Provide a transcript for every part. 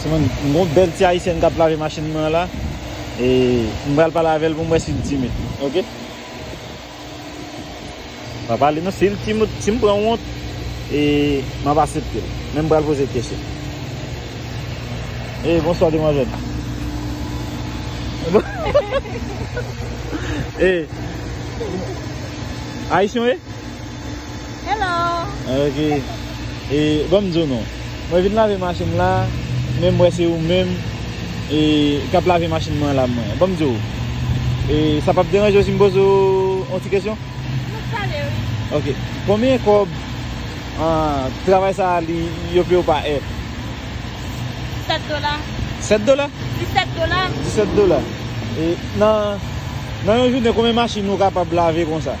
M gon bèl ti ayisyèn kap lave machin mwen la e m pral pale avèl pou m wè sil timid ok pa pale non sil timid si m pran wont e m ap asepte l men m pral poze kesyon e bonswa demwazèl e ayisyen w ye Hello! Ok, e bon m di w non, mwen vin lave machin m la, men m wè se ou menm e k ap lave machin mwen la mwen. Bon m di w, e sa p ap deranje w si m poze w yon ti kesyon? Nou k pale wi. Ok, konbyen kòb travay sa a li yo peye w pa è? 7 dola. 7 dola? 17 dola. 17 dola. E nan yon jounen konbyen machin ou kapab lave konsa?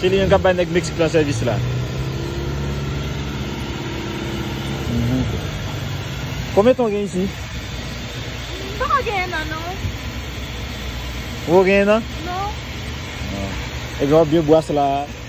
Se li menm kap bay nèg mexique lan sèvis la. Konbyen ton gen isi? Poko gen 1 an non. Poko gen 1 an? Non. Ebyen wap byen bwase la.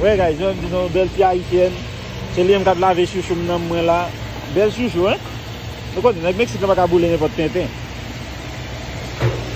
Wè guys jwenn di nou bèl fi ayisyèn se li menm kap lave chouchoum nan mwen la bèl chouchou hein nou konnen nèg mexique lan paka boule nenpòt tenten.